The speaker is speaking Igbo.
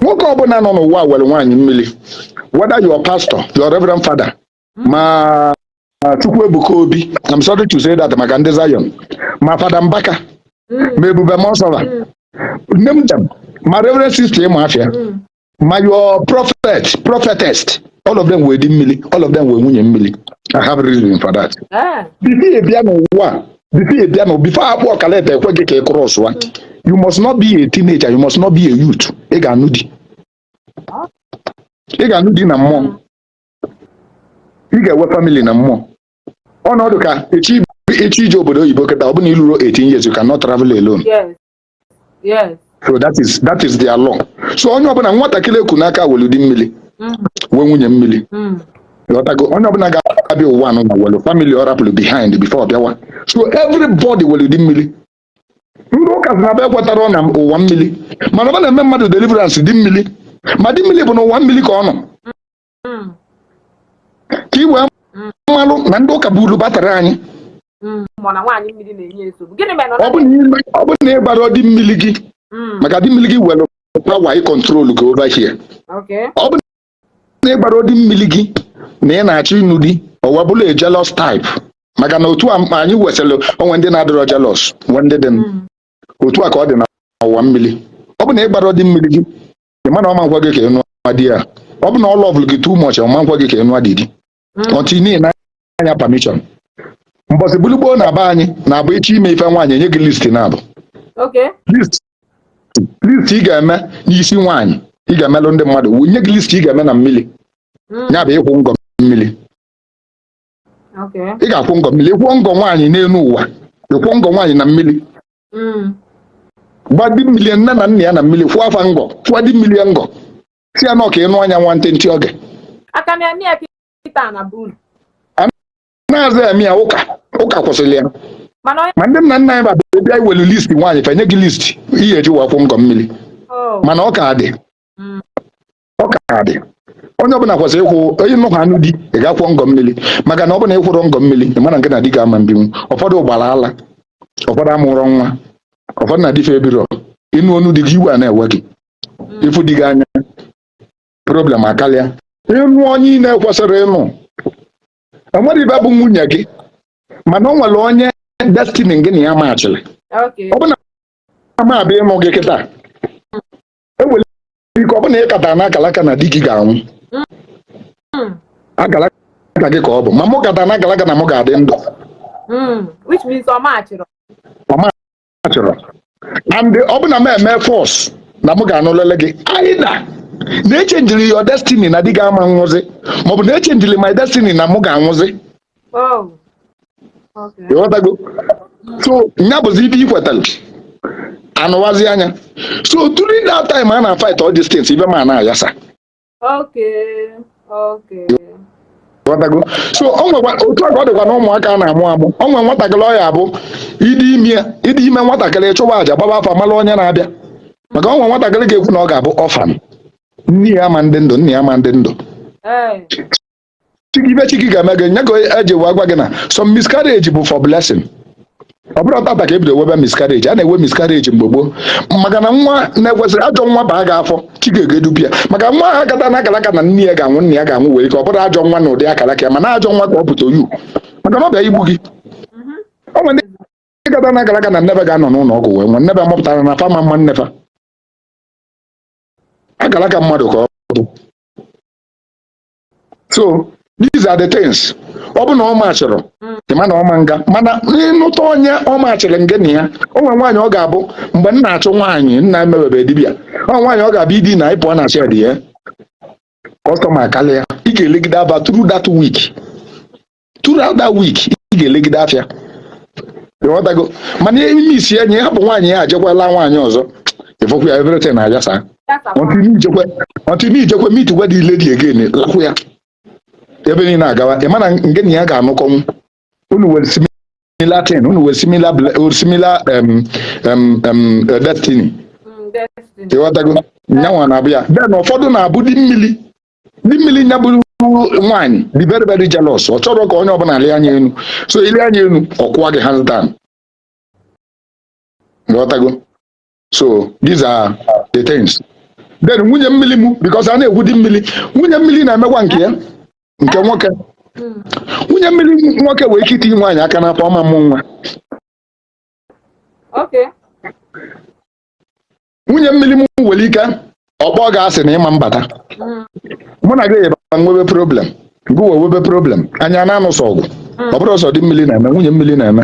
nwoke ọbụla nọ n'ụwa were nwaanyị mmiri whether your pastor your reverend father ma chukwuebuka obi I'm sorry to say that maka ndị Zion ma fada mbaka ma ebube muonso fa name them ma reverend sister ịma afịa ma your prophet prophetess all of them were di mmiri all of them were nwunye mmiri I have reason for that. Ah. before ị bịa n'ụwa before ị bịa na before akpọọ gị letter ekwe gị ka ị cross ụwa you must not be a teenager you must not be a youth ị ga-anụ di ị ga-anụ di na mmụọ ị ga-enwe family na mmụọ ọ na-adị ka ị chọ ije obodo oyibo kịta ọ bụ na i lurọ 18 years you cannot travel alone yes Yes. So that is that is their law. So onye ọbụla nwatakịrị eku n'aka welu di mmiri mm. wee nwunye mmiri mm. ị ghọtago onye ọbụla ga-abịa ụwa nụnwa welu family ọ rapụrụ behind before bịawa so everybody welu di mmiri ndị ụka sị na fa ekwetarọ na ụwa mmiri mana fa na-eme mmadụ deliverance di mmiri ma di mmiri bụ na ụwa mmiri ka ọ nọ hmm. ka i wee hmm. malụ na ndị ụka bụ uru batara anyị hmm. ọ bụ na ịgbarọ di mmiri gị maka di mmiri gị were power ị control gị over here ọ bụ na ịgbarọ di mmiri gị na ị na-achọ ịnụ di ọ wa bụlụ a jealous type maka na otu anyị wesịrị onwe ndị na-adịrọ jealous nwe ndị dị otu a ka ọ dị na ụwa mmiri ọ bụ na ịgbarọ di mmiri gị ị ma na ọ ma ekwe gị ka ịnụ di ya ọ bụ na ọ lọvụrụ gị too much ọ ma ekwe gị ka ịnụ di gị until ị naa ya permission mbọsị bụlụ gboo na be anyị na-abụ ịchọ ime ife nwaanyị enye gị list naabọ list ị ga-eme n'isi nwaanyị ị ga-emelụ ndị mmadụ nye gị list ị ga-eme na mmiri ya bụ ịkwụ ngọ mmiri ị ga-akwụ ngọ mmiri ịkwụọ ngọ nwaanyị n'elu ụwa ịkwụọ ngọ nwaanyị na mmiri hmm. gba di mmiri nne na nna ya na mmiri kwụọ fa ngọ kwụọ di mmiri ngọ sị ya na ọ ka ị nụa ya nwa ntịntị oge na-aza eme ya ụka ụka kwụsịrị ya ma ndị nna nna anyị ba bịa iwelu list nwaanyị fa enye gị list ihe eji wee akwụ ngọ mmiri oh. mana ọ ka dị hmm. ọ ka dị onye ọbụla kwesịrị ịkwụ onye nnọkọ anụ di ị ga-akwụ ngọ mmiri maka na ọ bụ na ịkwụrọ ngọ mmiri ị mara nke na di ga-ama mbinwu ụfọdụ gbara ala ụfọdụ amụrọ nwa ụfọdụ na di fa ebirọ ịnụ onu di gị iwe a na-ewe gị ịfụ di gị anya problem akarịa ịnụ onye ị na-ekwesịrị ịnụ enwere ibe bụ nwunye gị mana ọ nwere onye destiny gị na ya machịrị Okay. ọ bụ na ama abịa ịnụ gị kịta enwere ike ọ bụ na ị kata na akalaka na di gị ga-anwụ Mm. akalaka gị ka ọ bụ ma mụ kata na akalaka na mụ ga-adị ndụ Mm. which means ọ machịrọ and ọ bụ na m eme force na mụ ga-anụlịlị gị either na-echenjiri your destiny na di gị ama nwụzi maọbụ na-echenjiri my destiny na mụ ga-anwụzi Oh, okay. ịghọtago so nya bụzi ibe i kwetara anụwazi anya so during that time a na-fight all these things ibe m ana-ayasa Okay, okay. Ghọtago? so otu a ka ọ dịkwa na ụmụaka a na-amụ amụ ọ nwere nwatakịrị ọ ya abụ ị dị ime ị dị ime nwatakịrị chụwa aja gbaba afa mara onye na-abịa maka ọ nwere nwatakịrị ga-ekwu na ọ ga-abụ orphan nne ya ama ndị ndụ nna ya ama ndị ndụ Eh, ibe chi gị ga-eme gị nya ka e ji wee gwa gị na some miscarriage bụ for blessing ọ bụrọ tata ka ebido webe miscarriage a na-ewe miscarriage mgbe gboo maka na nwa na-ekwesịrọ ajọ nwa baa gị afọ chi gị ga-edupụ ya maka nwa ahụ kata na akalaka na nne ya ga-anwụ nna ya ga-anwụ nwere ike ọ bụrọ ajọ nwa na ụdị akalaka ya mana ajọ nwa ka ọ bụ to you maka na ọ bịa igbu gị ọ nwere ndị kata na akalaka na nne fa ga-anọ n'ụlọ ọgwụ wee nwụọ nne fa mụpụtara na fa ama mma nne fa akalaka mmadụ ka ọ bụ so these are the things ọ bụ na ọ machịrọ ị ma na ọ ma nga mana ị nụta onye ọ machịrị ngị na ya o nwere nwaanyị ọ ga-abụ mgbe m na-achụ nwaanyị nna emebebe dibịa ọ nwere nwaanyị ọ ga-abụ i dinaa ya ị pụọ na shed gị customer akarịa ị ga-elegide afịa throughout that week throughout that week ị ga-elegide afịa ịghọtago mana ime isi enyi hapụ nwaanyị ya ajekwala nwaanyị ọzọ ịfọkwa ya everything na-ayasa until i jekwe meet kwa the lady again lakwụ ya ibe niile agawa ị ma na ngị na ya ga-anụkọnwu unu were similar thing unu were similar ble- similar um, um, um, uh, destiny ịghọtago nyanwa na-abụ ya then ụfọdụ na-abụ di mmiri di mmiri nya bụrụ nwaanyị dị very very jealous ọ chọrọ ka onye ọbụla lee anya elu so i lee anya elu ọ kụwa gị hands down ghọtago so these are the things then nwunye mmiri m because a na-ekwu di mmiri nwunye mmiri na-emekwa nke ya nke nwoke nwunye mmiri nwoke nwere ike itinye nwaanyị aka n'afọ ọ ma mmụ nwa nwunye mmiri m nwere ike ọ kpọ gị asị na ị ma mbata mm, mụ na gị yebara nwebe problem gị wee webe problem anyị ana-anụsọ ọgụ ọ bụrọ sọ di mmiri na-eme nwunye mmiri na-eme